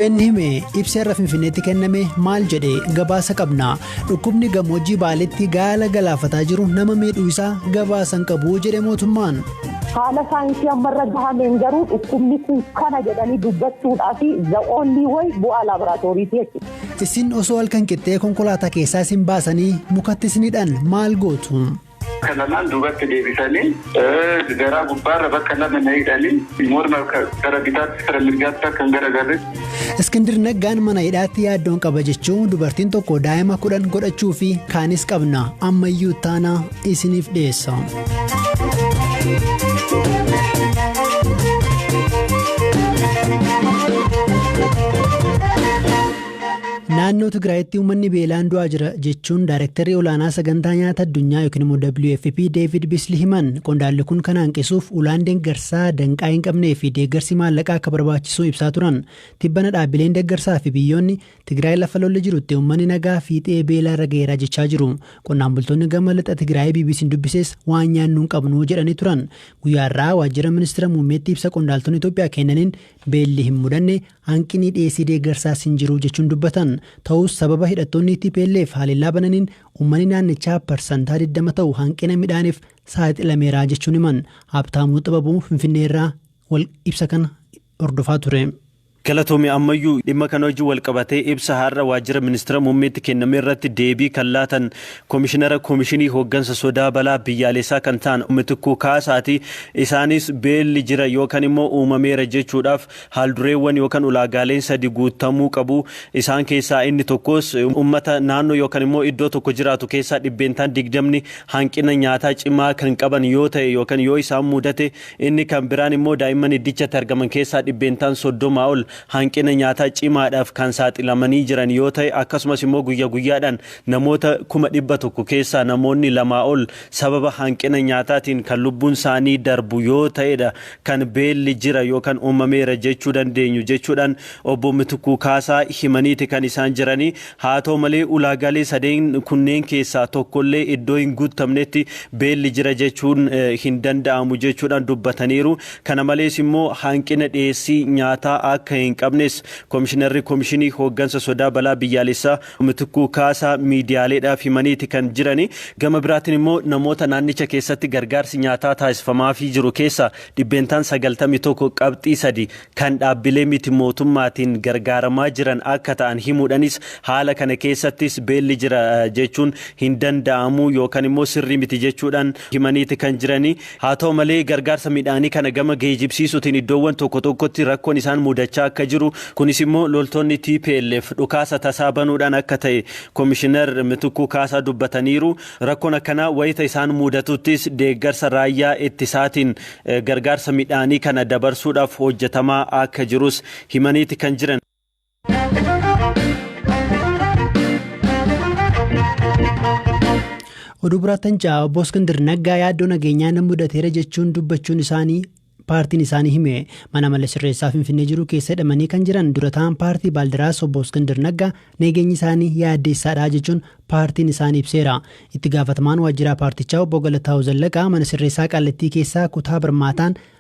Inni hime ibsa irra finfinneetti kenname maal jedhe gabaasa qabna dhukkubni gammoojjii baaleetti gaala galaafataa jiru nama miidhuu isaa gabaasan qabu jedhe mootummaan. Haala saayinsii ammarra gahameen garuu dhukkubni kun kana jedhanii dubbachuudhaa fi za'oonni wayi bu'aa laaboraatooriiti jechuudha. Isin osoo halkan qixxee konkolaataa keessaa isin baasanii mukatti isinidhaan maal gootu? Bakka lamaan duubatti deebisanii garaa gubbaarra bakka lama na hidhanii morma gara bitaatti gara mirgaatti akka hin garagarretti. Iskindir Naggaan mana hidhaatti yaaddoon qaba jechuu dubartiin tokko daa'ima kudhan godhachuu fi kaanis qabna ammayyuu taana isiniif dhiyeessa. Naannoo Tigraayitti uummanni beelaan du'aa jira jechuun Daayrektarri Olaanaa Sagantaa Nyaata Addunyaa yookiin immoo WFP Deevid Bisli himan. Qondaalli kun kana hanqisuuf ulaan deeggarsaa danqaa hin qabnee fi deeggarsi maallaqaa akka barbaachisuu ibsaa turan. Tibbana dhaabbileen deeggarsaa fi biyyoonni Tigraay lafa lolli jirutti uummanni nagaa fiixee beelaa irra gaheera jechaa jiru. Qonnaan bultoonni gama lixa Tigraayii BBC'n dubbises waan nyaannu hin qabnu jedhanii turan. Guyyaa har'aa waajjira ministira muummeetti ibsa qondaaltonni Itoophiyaa kennaniin beelli hin mudanne Hanqinii dhiyeessii deeggarsaas hin jiru jechuun dubbatan. Ta'us sababa hidhattoonni tplf haleellaa bananiin uummanni naannichaa parsantaa 20 ta'u hanqina midhaaniif saaxilameera jechuun himan. Habtaamuu Xibabuu Finfinneerraa wal ibsa kana hordofaa ture. Galatoomi ammayyuu dhimma kana wajjin walqabatee ibsa har'a waajjira ministira muummeetti kenname irratti deebii kan laatan komishinara komishinii hooggansa sodaa balaa biyyaaleessaa kan ta'an Mitikkuu Kaasaati. Isaanis beelli jira yookan immoo uumameera jechuudhaaf Haaldureewwan yookan ulaagaaleen sadi guuttamuu qabu. Isaan keessaa inni tokkoos ummata naannoo yookan immoo iddoo tokko jiraatu keessaa dhibbeentaan digdamni hanqina nyaataa cimaa kan qaban yoo ta'e yookan yoo isaan muudate, inni kan biraan immoo daa'imman iddichatti argaman keessaa dhibbeentaan soddoma ol hanqina nyaataa cimaadhaaf kan saaxilamanii jiran yoo ta'e akkasumas immoo guyya guyyaadhaan namoota kuma dhibba tokko keessaa namoonni lamaa ol sababa hanqina nyaataatiin kan lubbuun isaanii darbu yoo ta'edha kan beelli jira yookan uumameera jechuu dandeenyu jechuudhaan Obbo Mitikkuu Kaasaa himaniiti kan isaan jiranii. Haa ta'u malee ulaagaalee sadeen kunneen keessaa tokkollee iddoo hin guuttamnetti beelli jira jechuun hin danda'amu jechuudhaan dubbataniiru. Kana malees immoo hanqina dhiyeessii nyaataa akka hin qabnes Komishinarri Komishinii Hooggansa Sodaa Balaa Biyyaalessaa Mitikkuu Kaasaa miidiyaaleedhaaf himaniiti kan jirani. Gama biraatiin immoo namoota naannicha keessatti gargaarsi nyaataa taasifamaafii jiru keessaa dhibbeentaan 91.3 kan dhaabbilee miti mootummaatiin gargaaramaa jiran akka ta'an himuudhanis haala kana keessattis beelli jira jechuun hin danda'amu yookan immoo sirrii miti jechuudhaan himaniiti kan jirani. Haa ta'u malee gargaarsa midhaanii kana gama geejibsiisuutiin iddoowwan tokko tokkotti rakkoon isaan mudachaa akka jiru, kunis immoo loltoonni tplf dhukaasa tasaa banuudhaan akka ta'e Komishinar Mitikkuu Kaasaa dubbataniiru. Rakkoon akkanaa wayita isaan mudatuttis deeggarsa raayyaa ittisaatiin gargaarsa midhaanii kana dabarsuudhaaf hojjetamaa akka jirus himaniiti kan jiran. Oduu biraattan ja'a obbo Iskindir Naggaa yaaddoo nageenyaa nan mudateera jechuun dubbachuun isaanii paartiin isaanii hime mana mala sirreessaa finfinnee jiru keessa hidhamanii kan jiran dura ta'an paartii baaldiraas obbo Iskindir Naggaa nageenyi isaanii yaaddeessaadha jechuun paartiin isaanii ibseera itti gaafatamaan waajjiraa paartichaa obbo Galataa'u Zallaqaa mana sirreessaa qaallattii keessaa kutaa barmaataan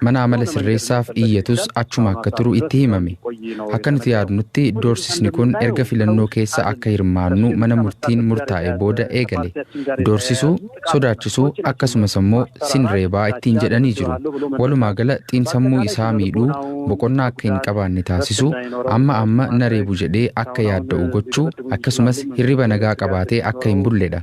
Mana amala sirreessaaf iyyatus achuma akka turu itti himame. Akka nuti yaadnutti doorsisni kun erga filannoo keessa akka hirmaannu mana murtiin murtaa'ee booda eegale. Doorsisuu, sodaachisuu akkasumas ammoo sin reebaa ittiin jedhanii jiru. Walumaa gala xiinsammuu isaa miidhuu, boqonnaa akka hin qabaanne taasisuu, amma amma na reebu jedhee akka yaadda'u gochuu akkasumas hirriba nagaa qabaatee akka hin bulledha.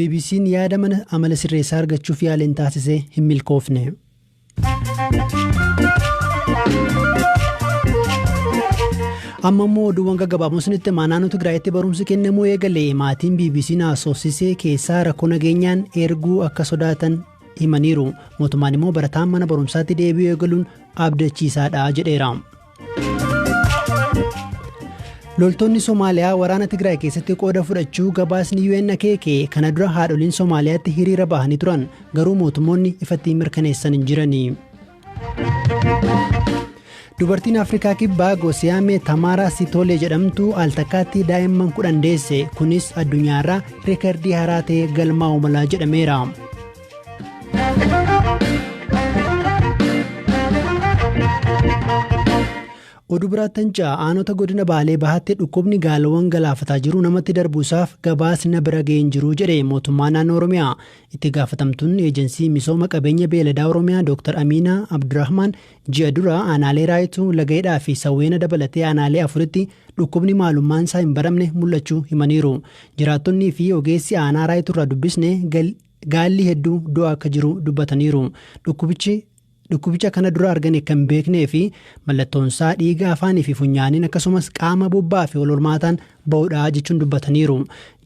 BBC'n yaada mana amala sirreessaa argachuuf yaaliin taasise hin milkoofne. amma immoo oduuwwan gaggabaaboon sinitti himaa naannoo Tigraayitti barumsi kennamuu eegale maatiin BBC haasofsiisee keessaa rakkoo nageenyaan erguu akka sodaatan himaniiru mootummaan immoo barataan mana barumsaatti deebi'uu eegaluun abdachiisaadha jedheera. Loltoonni Somaaliyaa waraana Tigraay keessatti qooda fudhachuu gabaasni UN akeeke kana dura haadholiin Somaaliyaatti hiriira bahanii turan garuu mootummoonni ifatti mirkaneessan hin jirani. Dubartiin Afrikaa Kibbaa Gosiyaamee Tamaaraa Sitoolee jedhamtu al takkaatti daa'imman kudhan deesse kunis addunyaarraa riikardii haaraa ta'ee galmaa'u mala jedhameera. Oduu biraattan ja'a aanota godina Baalee Bahaatti dhukkubni gaalawwan galaafataa jiru namatti darbuusaaf gabaasni na bira ga'een jiru jedhe mootummaa naannoo Oromiyaa. Itti gaafatamtuun eejensii misooma qabeenya beeladaa Oromiyaa Dr. Amiinaa Abdurrahmaan ji'a dura aanaalee Raayituu, Lagaidhaa fi Sawweena dabalatee aanaalee afuritti dhukkubni maalummaan isaa hin baramne mul'achuu himaniiru. Jiraattonnii fi ogeessi aanaa Raayituurraa dubbisne gal Gaa'illi hedduu du'aa akka jiru dubbataniiru. Dhukkubichi dhukkubicha kana dura argane kan beeknee fi mallattoonsaa dhiiga afaanii fi funyaaniin akkasumas qaama bobbaa fi walhormaataan ba'uudha jechuun dubbataniiru.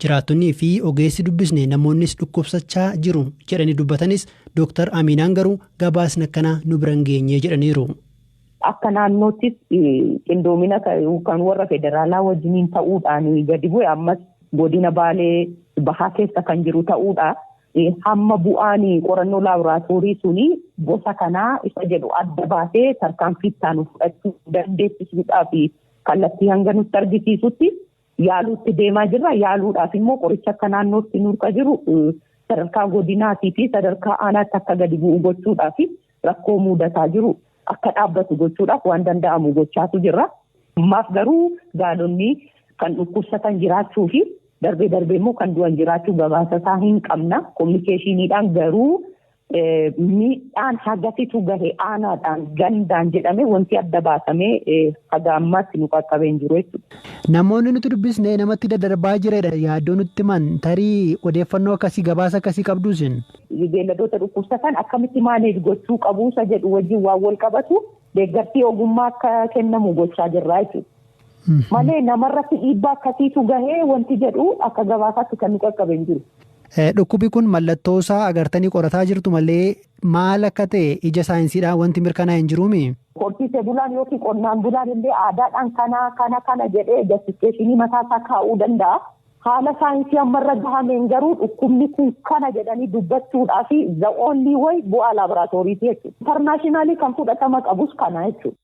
Jiraattonnii fi ogeessi dubbisne namoonnis dhukkubsachaa jiru jedhanii dubbatanis Dooktar Amiinaan garuu gabaasni akkanaa nu bira hin geenye jedhaniiru. Akka naannoottis qindoomina kan warra federaalaa wajjiniin ta'uudhaan gadi bu'e ammas godina baalee bahaa keessa kan jiru ta'uudha. Hamma bu'aan qorannoo laaboraatoorii suni gosa kanaa isa jedhu adda baasee tarkaanfii ittaanu fudhachuu dandeessisuudhaaf kallattii hanga nutti argisiisutti yaaluutti deemaa jirra. Yaaluudhaaf immoo qoricha akka naannootti nurka jiru sadarkaa godinaatii fi sadarkaa aanaatti akka gadi bu'u gochuudhaaf rakkoo muudataa jiru akka dhaabbatu gochuudhaaf waan danda'amu gochaatu jirra. Ammaaf garuu gaalonni kan dhukkubsatan jiraachuu fi darbee darbee immoo kan du'an jiraachuu gabaasa isaa hin qabna. Kominikeeshiniidhaan garuu Miidhaan hagasitu gahe aanaadhaan gandaan jedhamee wanti adda baasamee haga ammaatti nu qaqqabee hin jiru jechuudha. Namoonni nuti dubbisne namatti daddarbaa jiredha yaaddoo nutti himan. Tarii odeeffannoo akkasii gabaasa akkasii qabduu isin? Beelladoota dhukkubsatan akkamitti maaneej gochuu qabu isa jedhu wajjin waan wal qabatu deeggarsi ogummaa akka kennamu gochaa jirra jechuudha. Malee namarratti dhiibbaa akkasiitu gahee wanti jedhu akka gabaasaatti kan nu qaqqabe hin jiru. Dhukkubi kun mallattoo isaa agartanii qorataa jirtu malee maal akka ta'e ija saayinsiidhaan wanti mirkanaa'e hin jiruumi? Horsiisee bulaan yookiin qonnaan bulaan illee aadaadhaan kana kana kana jedhee jastifikeeshinii mataa isaa kaa'uu danda'a. Haala saayinsii amma irra gahameen garuu dhukkubni kun kana jedhanii dubbachuudhaa fi the only way bu'aa laaboraatooriiti jechuudha. Intarnaashinaalii kan fudhatama qabus kana jechuudha.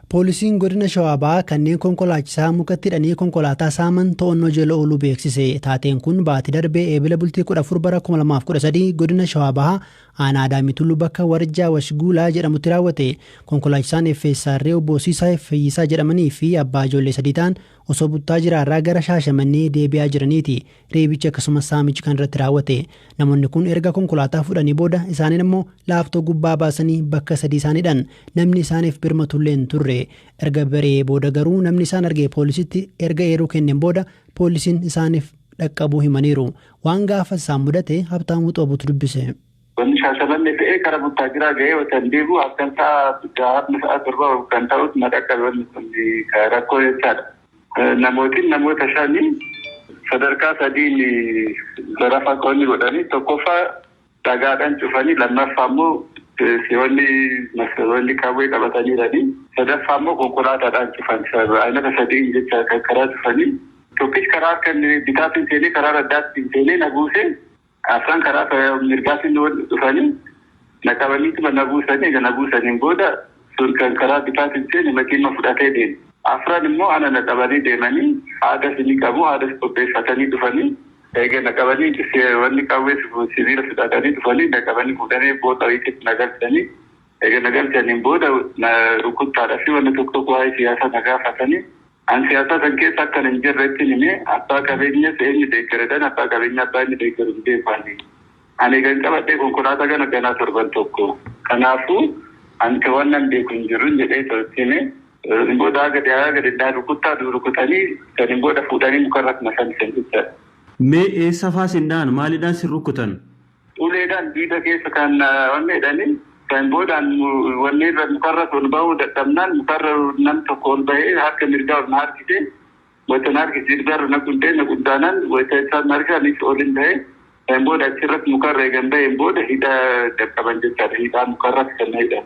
Poolisiin godina Shawaa Bahaa kanneen konkolaachisaa mukatti hidhanii konkolaataa saaman to'annoo jala ooluu beeksise. Taateen kun baatii darbee eebila bultii 14 bara 2013 godina Shawaa Bahaa aanaa Adaamii Tulluu bakka Warjaa Washguulaa jedhamutti raawwate. Konkolaachisaan FSR obbo Siisaa Fayyisaa jedhamanii fi abbaa ijoollee sadii ta'an osoo buttaa jiraarraa gara Shaashamannee deebi'aa jiraniiti. Reebichi akkasumas saamichi kan irratti raawwate namoonni kun erga konkolaataa fudhanii booda isaaniin immoo laaftoo gubbaa baasanii bakka sadii isaaniidhan namni isaaniif birmatullee hin turre erga bari'ee booda garuu namni isaan arge poolisitti erga eeruu kenneen booda poolisiin isaaniif dhaqqabuu himaniiru waan gaafas isaan mudate Habtaamuu Xoobuutu dubbise. Wanni Shaashamannee ka'ee kara Buttaajiraa ga'ee otan deebi'u halkan sa'a jahaa sa'a torba kan ta'utti na dhaqqabe wanni kun rakkoo jechaadha. Namootiin namoota shani sadarkaa sadiin zarafa konni godhani tokkoffa dhagaadhan cufani lammaffa ammo si'onni masaroonni qawwee qabatanirani sadaffa ammo konkolaatadhaan cufan aynata sadiin jecha kan karaa cufani tokkichi karaa harka inni bitaatin seenee karaa raddaattin seenee na buuse Afran karaa mirgaatiin dhufanii na qabaniituma na buusanii eega na buusaniin booda sun kan karaa bitaatiin seene makiinuma fudhatee deeme. Afran immoo ana na qabanii deemanii haadas ni qabu haadas qopheeffatanii dhufanii eega na qabanii wanni qawwee sibiila fudhatanii dhufanii na qabanii fuudhanii boo xawiititti na galchanii eega na galchaniin booda na rukuttaadhafi wanna tokko tokko waa'ee siyaasaa na gaafatanii An siyaasaa san keessa akkan hin jirre ittin hime. Abbaa qabeenyas eenyu deeggaredhan abbaa qabeenyaa abbaa inni deeggaru hin beeku ani. An eegan qabadhee konkolaataa kana ganaa torban tokko. Kanaafu, an ka wannan beeku hin jirun jedhee too itti hime. San booda haga dhihaayaa gadi na rukuttaa du rukutanii saniin booda fuudhanii mukarra na fannisan jechaadha. Mee eessafaa sin dhahan? Maalidhaan sin rukkutan? Uleedhaan diida keessa kan wanni jedhanii kan boodaan wanni irra mukarras ol bahuu dadhabnaan mukarra nam tokko ol bahee harka mirgaa ol na harkise wayita na harkise jilbaarra na quntee na quntaanan wayita isaan na harkise anis olin bahee kan booda achirratti mukarra eegan baheen booda hidha qaqqaban jechaadha hidhaa mukarratti kan na hidhan.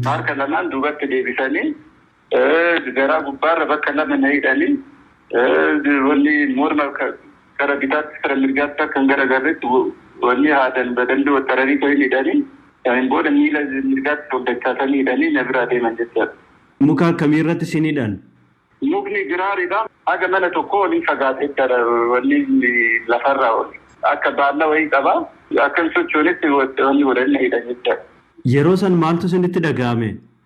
Harka lamaan duubatti deebisanii Garaa gubbaarra bakka lama na hidhanii wanni morma kara bitaatti kara mirgaatti akka hin garagarretti wanni haadan badalli wattararii ta'e hin hidhanii saniin booda miila mirgaatti ol dachaasanii hidhanii na biraa deeman jechaadha. Muka akkamii irratti isin hidhan? Mukni giraaridha. Haga mana tokkoo olii fagaata jechaadha wanni lafarraa ol. Akka baalla wayii qaba. Akka hin sochoonetti wanni godhanii na hidhan jechaadha. Yeroo san maaltu isinitti dhaga'ame?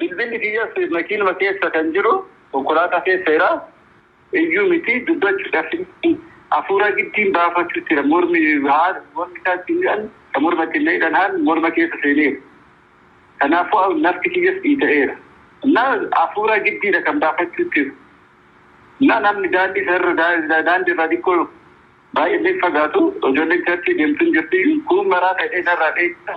Bilbilli kiyyas makiinuma keessa kan jiru konkolaataa keessa jira. Iyyuu miti dubbachu dhabsiisti. Hafuura giddiin baafachuu jira. Mormi haal mormi isaa ittiin hidhan kan morma ittiin na hidhan haal morma keessa seeneera. Kanaafuu nafti kiyyas dhiita'eera. Innaa hafuura giddiidha kan baafachuu jiru. Innaa namni daandii sarara daandii irraa xiqqoo baay'ee illee fagaatu ijoolleen charchii deemtu hin jirti. Kuun maraa ta'ee narraa dheessa.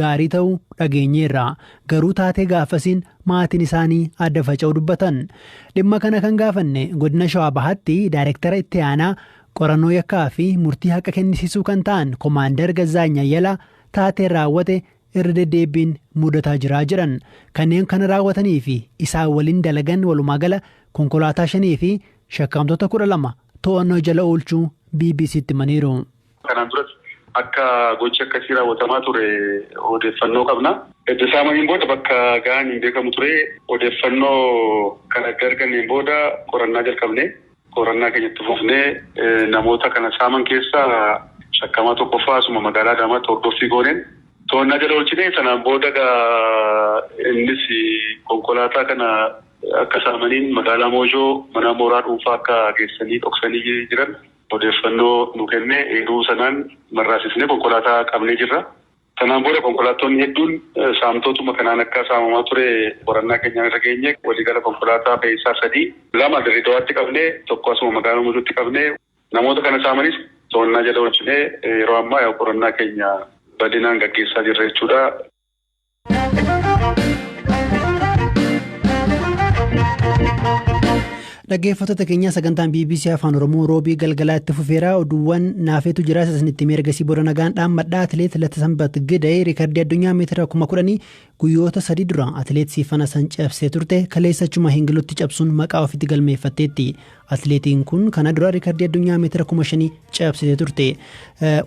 gaarii ta'uu dhageenyeerra. Garuu taatee gaafasiin maatiin isaanii adda faca'uu dubbatan. Dhimma kana kan gaafanne godina Shawaa Bahaatti Daayirektara Itti Aanaa Qorannoo Yakkaa fi Murtii Haqa Kennisiisuu kan ta'an Komaandar Gazzaany Ayyalaa taateen raawwate irra deddeebbiin mudataa jira jedhan. Kanneen kana raawwatanii fi isaan waliin dalagan walumaagala konkolaataa shanii fi shakkamtoota 12 to'annoo jala oolchuu BBC'tti himaniiru. Kanaan duras akka gochi akkasii raawwatamaa ture odeeffannoo qabna. Edda saamaniin booda bakka gahan hin beekamu ture. Odeeffannoo kana edda arganneen booda qorannaa jalqabne. Qorannaa keenya itti fufnee namoota kana saaman keessaa shakkamaa tokkoffaa asuma magaalaa Adaamaatti hordoffii gooneen to'annaa jala oolchine. Sanaan booda egaa innis konkolaataa kana akka saamaniin magaalaa Moojoo mana mooraa dhuunfaa akka geessanii dhoksanii jiran. Odeeffannoo nu kenne eeruu sanaan marraasisnee konkolaataa qabnee jirra. Sanaan booda konkolaattonni hedduun saamtootuma kanaan akka saamamaa ture qorannaa keenyaan irra geenye. Waliigala konkolaataa fe'iisaa sadii, lama Dirreedawaatti qabne, tokko asuma magaalaa Muduutti qabne. Namoota kana saamanis to'annaa jala oolchinee yeroo ammaa qorannaa keenya bal'inaan gaggeessaa jirra jechuudha. Dhaggeeffattoota keenyaa sagantaan BBC Afaan Oromoo roobii galgalaa itti fufeera oduuwwan naafeetu jira isinitti meergasii booda nagaan dhaammadhaa atileet Latasambat Gidee riikardii addunyaa meetira kuma kudhanii guyyoota sadii dura atileet Siifana san cabsee turte kaleessachuma hingilutti cabsuun maqaa ofitti galmeeffatteetti Atileetiin kun kana dura riikardii addunyaa meetira kuma shanii cabsitee turte.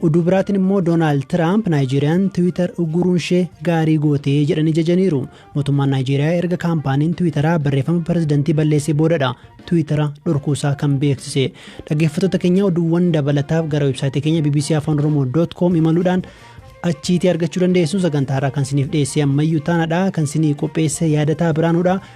Oduu biraatiin immoo Doonaald Tiraamp Naayijeeriyaan Tiwiitar ugguruun ishee gaarii gootee jedhanii jajaniiru. Mootummaan Naayijeeriyaa erga kaampaaniin Tiwiitaraa barreeffama pirezidantii balleessee boodadha Tiwiitara dhorkuusaa kan beeksise. Dhaggeeffattoota keenya oduuwwan dabalataaf gara websaayitii keenya bbc afaan oromoo dot com imaluudhaan achiitii argachuu dandeessu sagantaa irraa kan siniif dhiyeessee ammayyuu taanadha kan sinii qopheesse yaadataa biraanuudha